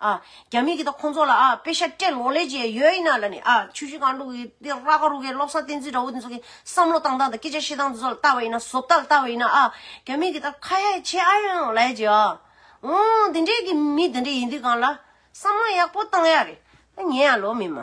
A: ཨ་རྒྱ་མི་གི་དང་ཁོང་ཚོ་ལ་ཨ་པེ་ཤ་ཀྲེ་ལོག་ལས་ཀྱི་ཡོད་ཡིན་ན་ལ་ནི་ཨ་ཆུ་ཤུ་གང་དྲུག་གི་དེ་ར་ག་རུ་གའི་སློབ་ས་བསྟན་འཛིན་འདྲ་བོ་དེ་ཚོ་གི་བསམ་བློ་བཏང་སྟངས་དང་སྐད་ཆ་བཤད་སྟངས་དེ་ཚོ་ལ་བལྟ་བ་ཡིན་ན་བཟོ་ལྟ་ལ་བལྟ་བ་ཡིན་ན་ཨ་རྒྱ་མི་གི་དང་ཁ་ཡ་ཆེ་ཨ་ཡོང་ལས་ཀྱི་ཨ་འོ་འདི་འདྲའི་གི་མི་འདི་འདྲའི་ཡིན་དུས་གང་ལ་བསམ་བློ་ཡག་པོ་བཏང་ཡ་རེད་ངས་ཡང་ལོ་མི་མ།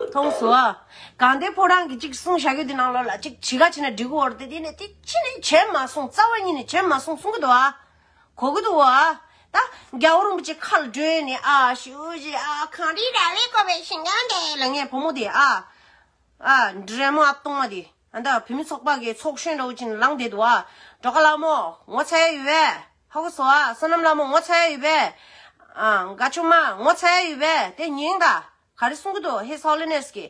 B: མཐོང་
A: སོ། གང་དེ་ཕོ་བྲང་གི་གཅིག་གསུང་བྱ་གྱུར་དེ་ནང་ལོགས་ལ་གཅིག་ཇི་ག་ཕྱི་ན་འབྲི་གུ་བོར་དེ་དེ་ནས་དེ་ཅི་ནས་བྱས་མ་སོང་རྩ་བ་ཉིད་ནས་བྱས་མ་སོང་གསུང་གི་འདུག་ཨ། གོ་གི་འདུག་ཨ། ད་རྒྱ་བོ་རིན་པོ་ཆེ་ཁ་ལ་བགྲོས་ནས་ཨ་ཞུ་ཞེས་ཨ་གངས་རིའི་ར་བའི་ཀོ་བའི་ཤིང་སྒང་དེ་ལ་ངའི་བུ་མོ་དེ་ཨ། ཨ། འདྲེ་མོ་ཨ་སྟོང་མ་དེ། ཨ་མདོ་བུད་མེད་ཚོགས་པ་གི་ཚོགས་གཞོན་ཀྲོའུ་ཅིན་ལང་འདས་དུ་ཨ་འབྲོ་ཀ་ལགས་མོ་ངོ་ཚ་ཡ་ཡོད་པས། ཧ་གོ་སོ་ཨ་བསོད་ནམས་ལགས་མོ་ངོ་ཚ་ཡ་ཡོད་པས། ཨ་དགའ་ཆུང་མ་ངོ་ཚ་ཡ་ཡོད་པས་དེ་སྙིང་ད་ག་རེ་གསུང་གི་འདུག His Holiness གི།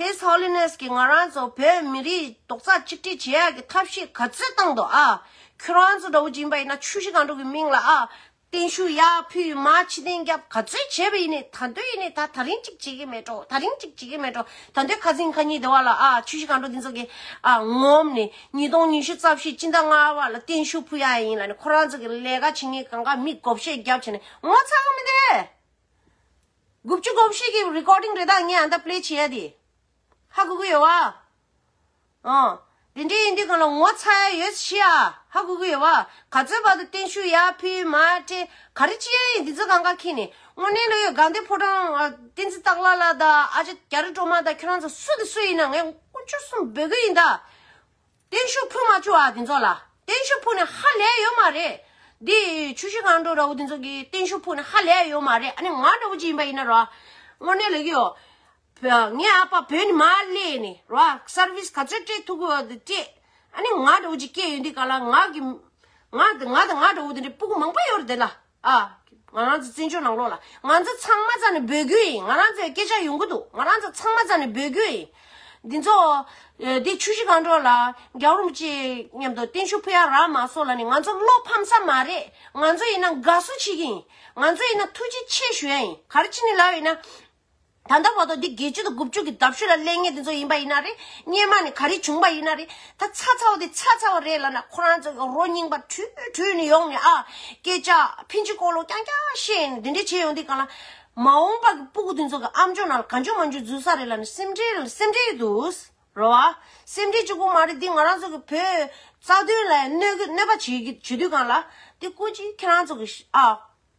A: His Holiness གི་ང་རང་ཚོ་བོད་མི་རིགས་རྡོག་རྩ་གཅིག་སྒྲིལ་བྱེད་ཡག་གི་ཐབས་ཤེས་ག་ཚོད་བཏང་འདུག་ཨ། ཁྱོད་རང་ཚོ་ཀྲོའུ་ཅིན་པ་ཡིན་ན་ཆུ་བཞི་སྒང་དྲུག་གི་མིང་ལ་ཨ། བརྟན་བཞུགས་ཡག་ཕུལ་མ་ཕྱི་བདེན་རྒྱབ་ག་ཚོད་བྱས་པ་ཡིན་ནས་ད་འདོད་ཡིན་ནས་ད་ད་རིང་ཅིག་བྱེད་ཀྱི་མེད་འགྲོ་ད་རིང་ཅིག་བྱེད་ཀྱི་མེད་འགྲོ་ད་འདོད་ཁ་ཟིང་ཁ་ཉིན་བདེ་བ་ལ་ཨ་ཆུ་བཞི་གང་འགྲོ་འདི་ཚོ་གི་ཨ་ངོམ་ནས་ཉིས་སྟོང་ཉི་ཤུ་རྩ་བཞི་སྤྱི་ཟླ་ལྔ་བ་ལ་བརྟན་བཞུགས་ཕུལ་ཡག་ཡིན་ལ་ནས་ཁོ་རང་ཚོ་གི་ལས་ཀ་བྱེད་ངེས་གང་ག་མིས་དགོ་བཤད་རྒྱབ་བྱས་ནས་ངོ་ཚ་གི་མི་འདུག་དགུ་བཅུ་གོ་བཞི་གི་རི་ཀོ་ཏིང་རེ་དྭགས་ངས་ཨ་མདའ་པླེ་བྱེད་ཡ་དེ་ཧ་གོ་གི་ཡོད་བ། ཨོ། དེ་འདྲའི་ཡིན་དུས་གང་ལ་ངོ་ཚ་ཡ་ཡོད་ཤི་ཨ་ཧ་གུ་གུ་ཡོད་བ། ག་ཚོད་བར་དུ་བརྟན་བཞུགས་ཡ་ཕི་མ་ཀྲེ། ག་རེ་ཅི་ཡ་ཡིན་འདི་ཚོ་གང་ག་ཁྱེད་ནི། དངོས་གནས་ལོས་ཡོད་གངས་ཏེ་ཕོ་བྲང། བསྟན་འཛིན་སྟག་ལ་ལ་དང་ཨ་ཅེ་རྒྱ་རི་སྒྲོལ་མ་དང་ཁྱོད་རང་ཚོ་སུ་དང་སུ་ཡིན་ན་ངས་སྐུ་ཆུ་གསུམ་འབོད་གི་ཡིན་ད། བརྟན་བཞུགས་ཕུལ་མ་བཅུག་ཨ་འདི་ཚོ་ལ། བརྟན་བཞུགས་ཕུལ་ནས་ཧ་ལས་ཡོད་མ་རེད། འདི་ཆུ་བཞི་གངས་འགྲོ་ར་བོ་འདི་ཚོ་གིས་བརྟན་བཞུགས་ཕུལ་ནས་ཧ་ལས་ཡོད་མ་རེད་ཨ་ནི་ང་འདྲ་བོ་ཅིག་ཡིན་པ་ཡིན་ན་རོ། དངོས་གནས་ལོས་ཀྱི་ཡོད། ངའི་ཨ་ཕ་བོད་ནས་མར་སླེ་ནས་རོགས service ག་ཚོད་སྤྲད་ཐུབ་ཀྱི་ཡོད་དེ་ཨ་ནི་ང་འདྲ་བོ་ཅིག་སྐྱེས་ཡོད་འདི་ག་ལ་ང་གི་ང་དང་ང་འདྲ་བོ་དེ་འདྲའི་སྤུ་གུ་མང་པོ་ཡོད་རེད་དེ་ལ་ཨ་ང་རང་ཚོ་བཙན་བྱོལ་ནང་ལོགས་ལ་ང་ཚོ་ཚང་མ་ཚང་ནས་འབོད་རྒྱུ་ཡིན་ང་རང་ཚོའི་སྐད་ཆ་ཡོང་གི་འདུག་ང་རང་ཚོ་ཚང་མ་ཚང་ནས་འབོད་རྒྱུ་ཡིན་འདི་ཚོ་འདི་ཆུ་བཞི་གང་འགྲོ་ལ་རྒྱ་རོམ་བཅས་མཉམ་དུ་བརྟན་བཞུགས་ཕུལ་ཡ་ར་མ་སོགས་ལ་ནི་ང་ཚོ་བློ་ཕམ་ས་མ་རེད་ང་ཚོ་ཡིན་ན་དགའ་བསུ་བྱེད་ཀྱི་ཡིན་ང་ཚོ་ཡིན་ན་ཐུགས་རྗེ་ཆེ་ཞུ་ཡ་ཡིན་ག་རེ་བྱེད་ནི་ལབ་ཡིན་ན་ད་ལྟ་བར་དུ་འདི་དགེ་བཅུ་དང་དགུ་བཅུ་གི་འདབ་ཤུལ་ལ་གླེང་ངེས་དེ་ཚོ་ཡིན་པ་ཡིན་ན་རེད་སྙེ་མ་ནས་ག་རེ་བྱུང་པ་ཡིན་ན་རེད་ད་ཚ་ཚ་བ་དེ་ཚ་ཚ་བ་རེད་ལ་ན་ཁོ་རང་ཚོ་ཡང་རོ་རྙིང་པ་དྲུད་དྲུད་ནས་ཡོང་ནས་ཨ་སྐད་ཅག་ཕིན་ཅི་ཀོ་ལོ་རྐྱང་རྐྱང་བཤད་ནས་དེ་འདྲས་བྱས་ཡོང་དེ་ག་ལ། མ་འོངས་པ་གི་སྤུ་གུ་དེ་ཚོ་གི་ཨ་མཆོག་ནང་ལ་ག་འཇུག་མ་འཇུག་འཛུལ་ས་རེད་ལ་ནི་སེམས་ཁྲལ་ལ་ནི་སེམས་ཁྲལ་འདུག་རོ་ཨ། སེམས་ཁྲལ་གཅིག་པུ་མ་རེད་འདི་ང་རང་ཚོ་གི་བོད་རྩ་དོན་ལ་ཡང་གནོད་གི་གནོད་པ་བྱེད་གི་བྱེད་དུས་གང་ལ། དེ་ཀུན་གྱིས་ཁྱེད་རང་ཚོ་གི་ཨ།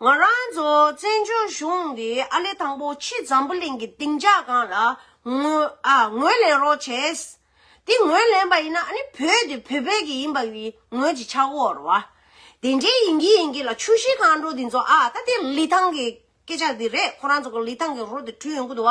A: ང་རང་ཚོ་བཙན་བྱོལ་གཞུང་གི་ཨ་ལེ་དང་པོ་ཕྱི་འཛམ་བུ་གླིང་གི་སྡིངས་ཆ་སྒང་ལ་ངོས་ལེན་རོགས་བྱས། དེ་ངོས་ལེན་པ་ཡིན་ན་ཨ་ནི་བོད་དེ་བོད་པའི་གི་ཡིན་པ་བི་ངོས་ཀྱི་ཆག་བོར་བ། དེ་འདྲའི་ཡིན་གྱི་ཡིན་གྱི་ལ་ཆུ་བཞི་སྒང་འགྲོ་དེ་ཚོ་ཨ་ད་དེ་ལི་ཐང་གི་སྐད་ཆ་དེ་རེད་ཁོ་རང་ཚོ་གི་ལི་ཐང་གི་རོ་དེ་བྲུས་ཡོང་གི་འདུག་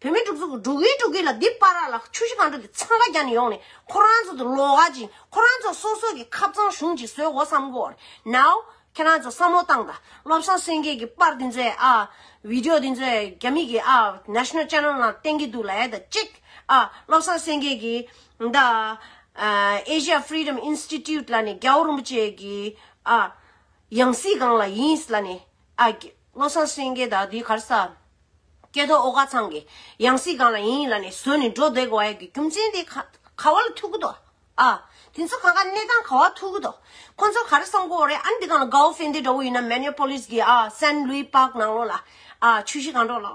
A: བོད་མི་དྲུག་ཅུ་དྲུག་གིས་དྲུག་གིས་ལ་འདི་པ་ར་ལ་ཆུ་བཞི་གངས་ཕྲུག་གི་འཚང་ཁ་རྒྱག་ནས་ཡོང་ནས་ཁོ་རང་ཚོ་དུ་ལོག་ག་ཅིག་ཁོ་རང་ཚོ་སོ་སོ་གི་ཁབ་ཚང་གཞུང་གཅིག་བཟོས་གོ་བསམ་གོ་ནའོ་ཁྱེད་རང་ཚོ་བསམ་བློ་བཏང་ད་བློ་བཟང་སེང་གེ་གི་པར་འདི་ཚོའི་ཨ Video འདི་ཚོའི་རྒྱ་མི་གི་ཨ National Channel ནང་བསྟན་གི་འདུག་ལ་ཡ་ད་གཅིག་ཨ་བློ་བཟང་སེང་གེ་གི་ད་ཨ Asia Freedom Institute ལ་ནས་རྒྱའོ་རིན་པོ་ཆེ་གི་ཨ་ཡང་སྲིད་གང་ལ་ཡིན་ལ་ནས་ཨ་སྔོ་སངས་སེང་གེ་དག་དུས་གར་ས། སྐྱེ་ཐོག་ཨོ་ག་ཚང་གི། ཡང་སྲིད་གང་ལ་ཡིན་ཡིན་ལ་ནི་ཟོས་ནི་འགྲོ་བདེ་གོ་ཨེ་གི་རྒྱུ་མཚན་དེ། ག་བ་ལ་ཐུག་གི་དོ། ཨ། དེ་ཚོ་གང་ག་གནས་སྟངས་ག་བ་ཐུག་གི་དོ། ཁོ་ཚོ་ག་རེ་བསམ་གོ་རེ་ཨ་ནི་དེ་གང་ལ་གའོ་ཧྥེ་འདི་འདྲ་བོ་ཡིན་ན་མེ་ནེ་ཕོ་ལིས་གི་ཨ་སན་ལུའི་པག་ནང་ལོ་ལ་ཨ་ཆུ་བཞི་གང་འགྲོ་ལོ།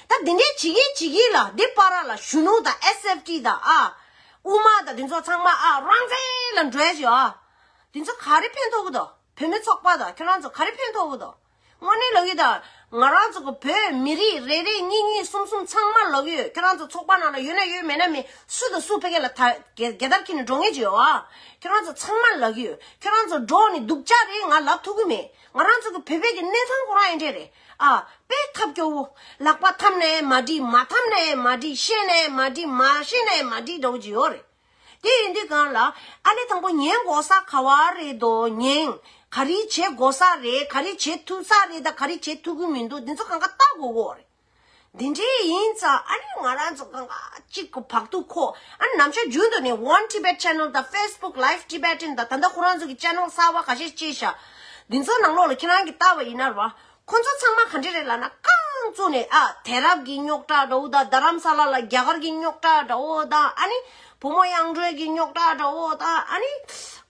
A: ད་འདི་འདྲས་བྱེད་ཀྱིན་བྱེད་ཀྱིན་ལ་འདི་པ་ར་ལ་གཞོན་ནུ་དང SFT དང་ཨ། དབུ་མ་དང་འདི་ཚོ་ཚང་མ་ཨ་རང་བཙན་ལ་འགྲོའི་ཞོ་ཨ། འདི་ཚོ་ག་རེ་ཕན་ཐོག་གི་དོག་བོད་མི་ཚོགས་པ་དང་ཁྱོད་རང་ཚོ་ག་རེ་ཕན་ཐོག་གི་དོག་དངོས་གནས་ལོག་གི་དང་ང་རང་ཚོ་གི་བོད་མི་རིགས་རེ་རེ་གཉིས་གཉིས་གསུམ་གསུམ་ཚང་མ་ལོག་གི་ཡོད་ཁྱོད་རང་ཚོ་ཚོགས་པ་ནང་ལ་ཡོད་ན་ཡོད་མེད་ན་མེད་སུ་དང་སུ་ཕལ་སྐད་ལ་ད་གད་གད་དར་འཁྱིལ་ནས་འགྲོ་ངེས་ཀྱི་ཡོད་ཨ་ཁྱོད་རང་ཚོ་ཚང་མ་ལག་གི་ཡོད་ཁྱོད་རང་ཚོ་འགྲོག་ནས་སྡུག་ཅག་རེད་ང་ལབ་ཐུག་གི་མེད་ང་རང་ཚོ་གི་བོད་པའི་གི་གནས་ཚང་ཁོ་རང་ཡིན་འདྲས་རེད་ཨ། པའི་ཐབས་སྐྱོ་བོ། ལག་པ་འཐམ་ནས་མ་བྲིས་མ་འཐམ་ནས་མ་བྲིས་ཤེས་ནས་མ་བྲིས་མ་ཤེས་ནས་མ་བྲིས་འདྲ་བོ་ཅི་ཡོད་རེད། དེ་ཡིན་དུས་གང་ལ། ཨ་ལས་དང་པོ་ཉན་དགོ་ས་ག་བ་རེད་དོ་ཉན། ག་རེ་བྱེད་དགོ་ས་རེད་ག་རེ་བྱེད་ཐུབ་ས་རེད་ད་ག་རེ་བྱེད་ཐུབ་ཀི་མི་འདུག་འདི་ཚོ་གང་ག་བལྟ་དགོ་གོ་རེད། འདི་འདྲས་ཡིན་ཙང་ཨ་རིའི་ང་རང་ཚོ་གང་ཁ་གཅིག་གི་བག་ཐུག་ཁོ་ཨ་ནམ་ཞར་རྒྱུན་དུ་ནས One Tibet Channel དང Facebook Live Tibetan དང་ད་ལྟ་ཁོ་རང་ཚོ་གི Channel གསར་བ་ག་ཞེ་བཅས་བཞག་འདི་ཚོ་ནང་ལོག་ལ་ཁྱེད་རང་གི་ལྟ་བ་ཡིན་ན་རོགས་ཁོ་ཚོ་ཚང་མ་ག་འདྲས་རེད་ལ་ན་རྐང་བཙུགས་ནས་ཨ་དེ་རབས་ཀྱི་རྙོག་དྲ་འདྲ་བོ་དང་རྡ་རམ་ས་ལ་ལ་རྒྱ་གར་གྱི་རྙོག་དྲ་འདྲ་བོ་དང་ཨ་ནི་བུ་མོ་གཡང་སྒྲོན་གྱི་རྙོག་དྲ་འདྲ་བོ་དང་ཨ་ནི་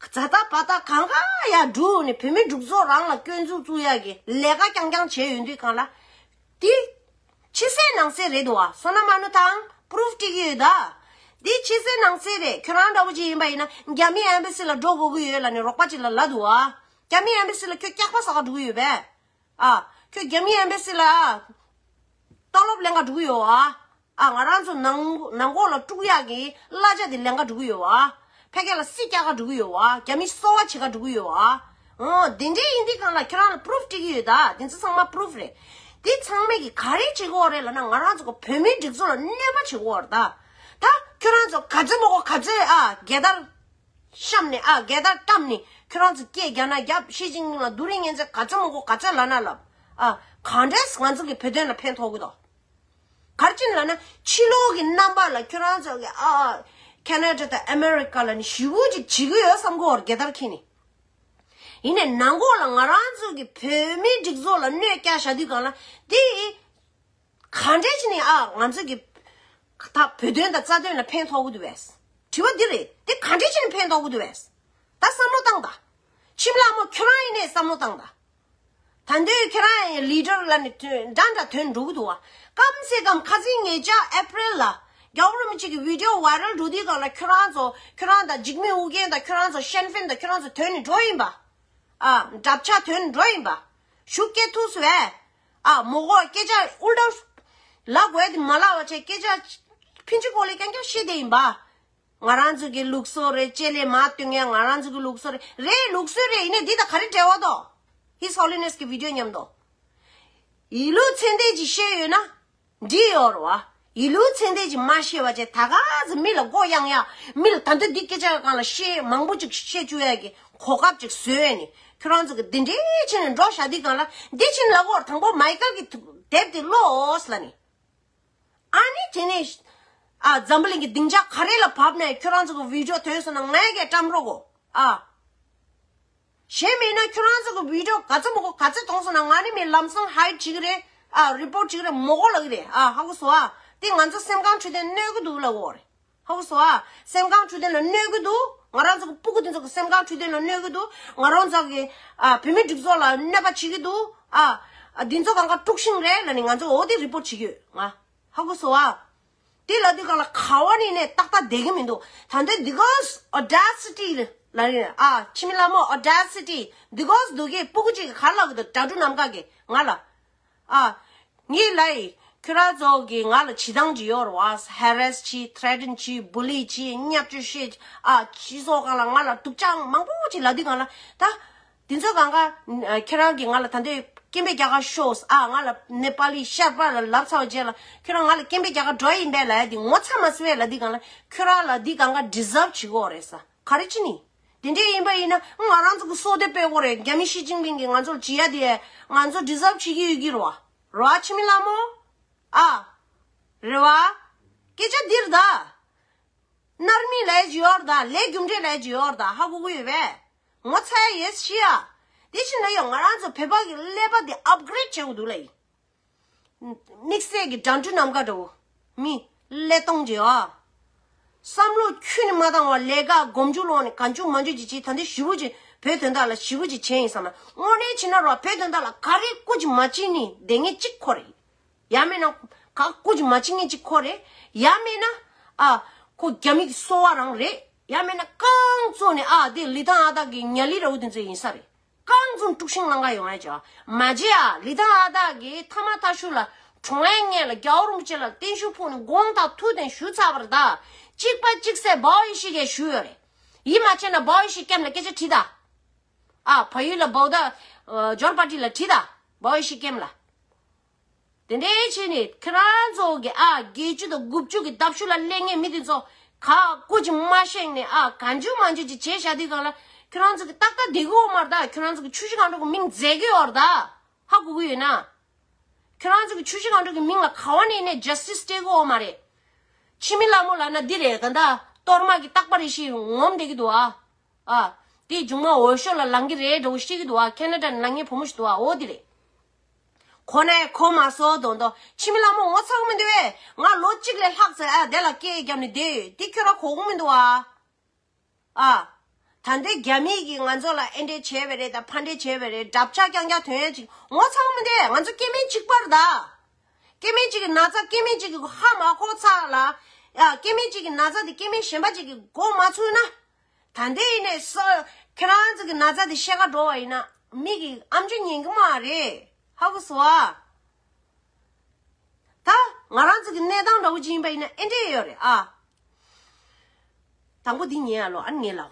A: ཛ་ད་པ་ད་གང་ཁ་ཡག་བསྒྲུགས་ནས་བུད་མེད་སྒྲུག་ཚོགས་རང་ལ་སྐྱོན་འཛུགས་བཙུགས་ཡག་གི་ལས་ཀ་རྐྱང་རྐྱང་བྱས་ཡོད་དུས་གང་ལ། དེ། ཕྱི་གསལ་ནང་གསལ་རེད་འདུག་བསོད་ནམས་ཨ་ནུ་ཐང Proof སྤྲད་ཀྱི་ཡོད། དེ་ཕྱི་གསལ་ནང་གསལ་རེད་ཁྱོད་རང་འདྲ་བོ་ཅིག་ཡིན་པ་ཡིན་ན་རྒྱ་མིའི Embassy ལ་འགྲོ་དགོས་ཀྱི་ཡོད་ལ་ནི་རོགས་པ་ཅིག་ལ་ལ་འདུག་བ། རྒྱ་མིའི Embassy ལ་ཁྱོད་སྐྱག་པ་ཟ་ག་འགྲོ་གི་ཡོད་པས། ཨ། ཁྱོད་རྒྱ་མིའི Embassy ལ། ལྟོགས་སློབ་ལེན་ག་འགྲོ་གི་ཡོད་བ། ཨ་ང་རང་ཚོ་ནང་ནང་འགོག་ལ་དཀྲུག་ཡག་གི་གླ་ཆ་དེ་ལེན་ཁ་འགྲོ་གི་ཡོད་བ། ཕལ་སྐད་ལ་སྲིད་སྐྱ་ཁ་འགྲོ་གི་ཡོད་བ་རྒྱ་མི་གསོ་བ་བྱེད་ཁ་འགྲོ་གི་ཡོད་བ། འོ་དེ་འདྲའི་ཡིན་དུས་གང་ལ་ཁྱོད་རང་ལ proof སྤྲད་ཀྱི་ཡོད་ད་དེ་ཚོ་ཚང་མ proof རེད། དེ་ཚང་མས་གི་ག་རེ་བྱེད་གི་འོག་རེད་ལ་ན་ང་རང་ཚོ་གི་བོད་མིའི་སྒྲིག་འཛུགས་ལ་གནོད་པ་བྱེད་གི་འོག་རེད་ད། ད་ཁྱོད་རང་ཚོ་ག་ཚོད་མ་གོ་ག་ཚོད་ཨ་རྒྱལ་དར་བཤམས་ནས་ཨ་རྒྱལ་དར་བཀྲམས་ནས་ཁྱོད་རང་ཚོ་སྐད་རྒྱག་ན་རྒྱབ་ཞི་ཅིང་ཕིང་ལ་རྡུ་རིང་ངན་ཚོད་ག་ཚོད་མ་གོ་ག་ཚོད་ལབ་ན་ལབ་ཨ་གང་འདྲས་ང་ཚོ་གི་བོད་དོན་ལ་ཕན་ཐོག་གི་དོག། གར་ཅིན་ལ་ནི་ཕྱི་ལོག་གི་རྣམ་པ་ལ་ཁྱོད་རང་ཚོ་གི་ཨ་ཨ། Canada དང America ལ་ནི་ཞི་བོ་ཅིག་བྱེད་གི་ཡོད་བསམ་གོ་རྒྱལ་དར་འཁྱེར་ནས། ཡིན་ནས་ནང་གོ་ལ་ང་རང་ཚོ་གི་བོད་མིའི་སྒྲིག་འཛུགས་ལ་གནོད་བསྐྱལ་བཞག་དུས་གང་ལ་དེ་ག་འདྲས་ཅི་ནས་ཨ་ཨ་ང་ཚོ་གི་ད་བོད་དོན་དང་རྩ་དོན་ལ་ཕན་ཐོག་གི་དུ་བས། དྲི་བ་འདི་རེད་དེ་ག་འདྲས་ཅི་ནས་ཕན་ཐོག་གི་དུ་བས། ད་བསམ་བློ་བཏང་ད། ཁྱིམ་ལགས་མོ་ཁྱོད་རང་ཡིན་ནས་བསམ་བློ་བཏང་ད། ད་འདོད་ཁྱེད་རང་ཡི Leader ལ་ནི་འདྲ་འདྲ་དོན་འགྲུག་འདུག་བ། སྐམ་སེ་སྐམ་ཁ་ཟིན་ངེད་ཅག April ལ། རྒྱ་བོར་མི་གཅིག་གི Video Viral འགྲོ་དུས་གང་ལ་ཁྱོད་རང་ཚོ་ཁྱོད་རང་དང་འཇིགས་མེད་ཨུ་རྒྱན་དང་ཁྱོད་རང་ཚོ་ཤན་ཕེན་དང་ཁྱོད་རང་ཚོ་དོན་ནི་འགྲོ་ཡིན་པ། ཨ། འདྲབ་ཆགས་དོན་ནི་འགྲོ་ཡིན་པ། ཞུ་སྐད་ཐུགས་སུ་བས། ཨ། མོ་གོ་སྐད་ཆ་ཨུ་འདྲ། ལ་གོས་དེ་མ་ལ་བ་ཆེ་སྐད་ཆ། ཕིན་ཆི་ཀོ་ལེ་ཀྱང་ཀྱང་བཤད་བསྡད་ཡིན་པ། ང་རང་ཚོ་གི་ལུགས་སྲོལ་རེད་ཅེས་ལས་མ་བཏོན་ཡང་ང་རང་ཚོ་གི་ལུགས་སྲོལ་རེད། རེད་ལུགས་སྲོལ་རེད་ཡིན་ན་འདི་དང་ག་རེ་འབྲེལ་བ་དང། His Holiness གི Video ཉམས་མདོག། ཡིད་ལུས་མཚན་ལྡན་གྱིས་ཤེས་ཡོད་ན། འདྲི་ཡོར་བ། ཡིད་ལུས་མཚན་ལྡན་གྱིས་མ་ཤེས་པ་བཅས་ད་ག་ཚོད་མི་ལ་མགོ་གཡང་ཡང། མི་ལ་ད་འདོད་འདི་སྐད་ཆ་གང་ལ་ཤེས་མང་པོ་ཅིག་བཤད་བཅུག་ཡ་གི་གོ་སྐབས་ཅིག་བཟོས་ཡས་ནི་ཁྱོད་རང་ཚོ་གི་འདི་འདྲའི་ཕྱི་ནས་འགྲོ་ཞག་འདི་གང་ལ་འདི་ཕྱིན་ལ་ཀོར་དང་པོ་མཱི་ཀལ་གི་དེབ་དེ་ཀློགས་ལ་ནི། ཨཱ་ནི་དེ་ནས། ཨ། འཛམ་བུ་གླིང་གི་སྡིངས་ཆ་ག་རེ་ལ་བབས་ནས་ཁྱོད་རང་ཚོ་གི་བིའུ་ཇོ་དོན་སོང་ན་ང་ཡི་གེ་བཀྲམ་རོགས་གོ་ཨཱ། གཞན་མེད་ན་ཁྱོད་རང་ཚོ་གི་བིའུ་ཇོ་ག་ཚོད་མོ་གོ་ག་ཚོད་གཏོང་སོང་ན་ང་ནི་མི་ལམ་སང་ཧའི་བྱེད་གི་རེད་ཨཱ་རེ་པོར་བྱེད་གི་རེད་མོ་གོ་ལ་གི་རེད་ཨཱ་ཧ་གོ་སོ་ཨཱ་དེ་ང་ཚོ་སེམས་ཁང་འཁྲུད་དོན་གནོད་གི་འདུག་ལ་གོ་རེ། ཧཱུྃ་བྷྱོ། སེམས་ཁམས་འཕྲོད་བསྟེན་ལ་གནོད་གི་འདུག་ང་རང་ཚོ་གི་སྤུ་གུ་འདི་ཚོ་གི་སེམས་ཁམས་འཕྲོད་བསྟེན་ལ་གནོད་གི་འདུག་ང་རང་ཚོ་གི་བུད་མེད་སྒྲིག་ཚོགས་ལ་གནོད་པ་བྱེད་ཀྱི་འདུག་ཨ། འདི་ཚོ་གང་ག་དཀྲུགས་ཤིང་རེད་ལ་ནི་ང་ཚོ་འོ་དེ་རི་པོར་བྱེད་ཀྱི་ཡོད་ང། ཧཱུྃ་བྷྱོ། དེ་ལ་དུས་གང་ལ་ཁ་བ་ནི་ནས་ཏག་ཏག་བསྡད་ཀྱི་མི་འདུག་ད་འདོད་འདི་གོས Audacity ལ་རིང་ཨ་ཕྱི་མི་ལ་མོ Audacity འདི་གོས་འདུག་གི་སྤུ་གུ་གཅིག་གི་གར་ལག་གི་འདུག་དྲ་གྲུ་ནམ་མཁའ་གི་ང་ལ། ཨ། ངའི་ལའི། ཁྱོད་རང་ཚོ་གིས་ང་ལ་བྱིས་སྡང་ཇི་ཡོར་བར harass བྱས threaten བྱས bully བྱས་བརྙས་བཅོས་བྱས་ཨ། ཅི་སོགས་གང་ལ་ང་ལ་དུག་ཅག་མང་པོ་བྱས་ལ་དུས་གང་ལ་ད། དེ་ཚོའི་གང་གཱ། ཁྱོད་རང་གིས་ང་ལ་ད་ལྟའི་སྐྱེན་པའི་སྐྱག་ག་ཤོས་ཨ། ང་ལ་ནེ་པ་ལི་ཤར་པ་ལ་ལབ་ཚར་བ་བྱས་ལ་ཁྱོད་རང་ང་ལ་སྐྱེན་པའི་སྐྱག་ག་འགྲོ་ཡིན་པས་ལ་ཡ་དེ་ངོ་ཚ་མ་བྱེད་བས་ལ་དུས་གང་ལ་ཁྱོད་རང་ལ་དེ་གང་གཱ deserve བྱེད་དགོས་རེད་ས། ག་རེ་བྱས་ནས། དེ་འདྲས་ཡིན་པ་ཡིན་ན་ང་རང་ཚོ་གི་སྲོག་དེ་སྤེལ་གོ་རེད་རྒྱ་མི་ཞི་ཅིང་ཕིང་གིས་ང་ཚོར་བྱེད་ཡ་དེ་ང་ཚོ deserve བྱེད་ཀྱི་ཡོད་ཀྱི་རེད་བ། རེད་བ་ཁྱི་མི་ལ་མོ། ཨ། རེད་བ། སྐད་ཆ་འདིར་ད། ནར་མི་ལའི་ཇི་ཡོར་ད་ལས་རྒྱུ་འབྲས་ལའི་ཇི་ཡོར་ད་ཧ་གོ་གི་ཡོད་བས། ངོ་ཚ་ཡ་ཡེས་ཤི་ཡ། དེ་བཞིན་ད་ཡོད་ང་རང་ཚོ་བོད་པ་གི་ཀླད་པ་དེ upgrade བྱེད་གོ་འདུག་ལ་ཡིན། དམིགས་བསལ་གྱི་དགྲ་འདྲུ་ནམ་མཁའ་འགྲོ། མི། ཀླད་སྟོང་རྗེ། བསམ་བློ་ཁྱོད་ནི་མ་བཏང་བར་ལས་ཀ་སྒོམ་འཇུག་ལོག་ནས་ག་འཇུག་མ་འཇུག་ཅིག་བྱས་ད་འདི་ཞི་བུ་ཅན་བོད་དོན་དག་ལ་ཞི་བུ་ཅིག་བྱས་ཡིན་བསམ་ན་དངོས་གནས་བྱིན་རླབས་རོགས་བོད་དོན་དག་ལ་ག་རེ་སྐུ་ཅིག་མ་བྱིན་ནི་བདེ་ངེས་གཅིག་ཁོ་རེ། ཡ་མེད་ན། ག་སྐུ་ཅིག་མ་བྱིན་ངེས་གཅིག་ཁོ་རེ། ཡ་མེད་ན། ཨ། ཁོ་རྒྱ་མིག་གི་སོ་བ་རང་རེད། ཡ་མེད་ན་རྐང་བཙུགས་ནས་ཨ་དེ་ལི་ཐང་ཨ་སྟག་གི་ཉལ་ལི་ར་བུ་དེ་ཚོའི་ཡིན་ས་རེད། རྐང་འཛུམ་དཀྲུགས་ཤིང་ནང་ཁ་ཡོང་ཡ་ཅག་མ་བྱེད་ཨ་ལི་དང་ཨ་སྟག་གིས་མཐའ་མ་ཐ་ཤུ་ལ་གྲོང་ཨེ་ངན་ལ་རྒྱའུ་རིན་པོ་ཆེ་ལ་བརྟན་བཞུགས་ཕུག་ནས་དགོངས་དག་ཐུགས་གཏན་ཞུ་ཚར་བར་དག་གཅིག་པ་གཅིག་སེ་བའོ་ཡེ་ཤེས་ཀྱ་ཞུ་ཡོད་རེད་ཡིད་མ་ཆེས་ན་བའོ་ཡེ་ཤེས་སྐྱམ་ལ་སྐད་ཆ་དྲིས་དང་ཨ་བ་ཡུལ་ལ་བའོ་ད་འབྱོར་པ་དྲིས་ལ་དྲིས་དང་བའོ་ཡེ་ཤེས་སྐྱམ་ལ། དེ་འདྲའི་ཕྱིར་ནི་ཁྱེད་རང་ཚོ་དགེ་བཅུ་དང་དགུ་བཅུ་གི་ལྡབ་ཞུ་ལ་སླེབས་ངེས་མི་དེ་ཚོ་ག་ཀོ་ཅིག་མ་གཤེགས་ནས་ག་འཇུ་མ་འཇུ་ཅིག་བྱས་བཞག་དུས་གང་ལ་ཁྱོད་རང་ཚོ་གི་ཏག་ཏག་སྡེ་གུ་འོག་མར་དག་ཁྱོད་རང་ཚོ་གི་ཆུ་བཞི་གང་འགྲོ་གི་མིང་མཛད་གི་ཡོད་ར་དག་ཧ་གོ་གི་ཡོད་ན། ཁྱོད་རང་ཚོ་གི་ཆུ་བཞི་གང་འགྲོ་གི་མིང་ལ་ག་བ་ནས་ནས Justice སྤྲད་གི་འོག་མ་རེད། ཕྱི་མི་ལ་མོ་ལ་ན་འདི་རེད་ག་འདའ་གཏོར་དམག་གི་ལྟག་པ་རེ་ཞིག་ངོམ་བསྡད་གི་འདུག་ཨ། ཨ། དེའི་མཇུག་མ་འོས་ཤོག་ལ་ལང་གི་རེད་འདྲ་བོ་ཤེས་གི་འདུག་ཨ Canada ནས་ལངས་ངའི་བུ་མོ་ཞིག་འདུག་ཨ་འོ་དེ་རེད། ཁོ་ནས་ཁོ་མ་སོ་དོ་དོ། ཕྱི་མི་ལ་མོ་ངོ་ཚ་གི་མི་འདུག་བས། ང་ལོ་གཅིག་ལས་ལྷག་ཚེ་ཨ་དེ་ལ་སྐད་བརྒྱབ་ནས་བསྡད་ཡོད་དེ་ཁྱོད་ར་གོ་གི་མི་འདུག་བ། ཨ། ད་འདི་རྒྱ་མིས་ཀྱིས་ང་ཚོ་ལ་ཨེ་འདྲས་བྱས་བས་རེད་ད་ཕ་འདྲས་བྱས་བས་རེད་འདྲ་བཅག་རྐྱང་རྐྱང་དོན་ཡ་ཅིག་ངོ་ཚ་གི་མི་འདུག་བས་ང་ཚོ་སྐྱེ་མེད་གཅིག་པར་གདའ། སྐྱེ་མེད་གཅིག་གི་ན་ཚ་སྐྱེ་མེད་གཅིག་གི་ཧ་མ་གོ་ཚ་ལ། ཡ་སྐྱེ་མེད་གཅིག་གི་ན་ཚ་དེ་སྐྱེ་མེད་གཞན་པ་གཅིག་གི་མགོ་མ་ཚུགས་ན། ད་འདི་ཡིན་ནས་ས་ཁྱེད་རང་ཚོ་གི་ན་ཚ་དེ་བཤད་ག་འགྲོ་བ་ཡིན་ན་མིག་གི་ཨམ་ཆུ་ཉན་གི་མ་རེད་ཧ་གོ་སོ་ཨ། ད་ང་རང་ཚོ་གི་གནས་སྟངས་འདྲ་བོ་ཅིག་ཡིན་པ་ཡིན་ན་ཨེ་འདྲེ་ཡོད་རེད་ཨ། དང་པོ་འདི་ཉན་ཡ་ལོ་ཨ་ངེས་ལགས།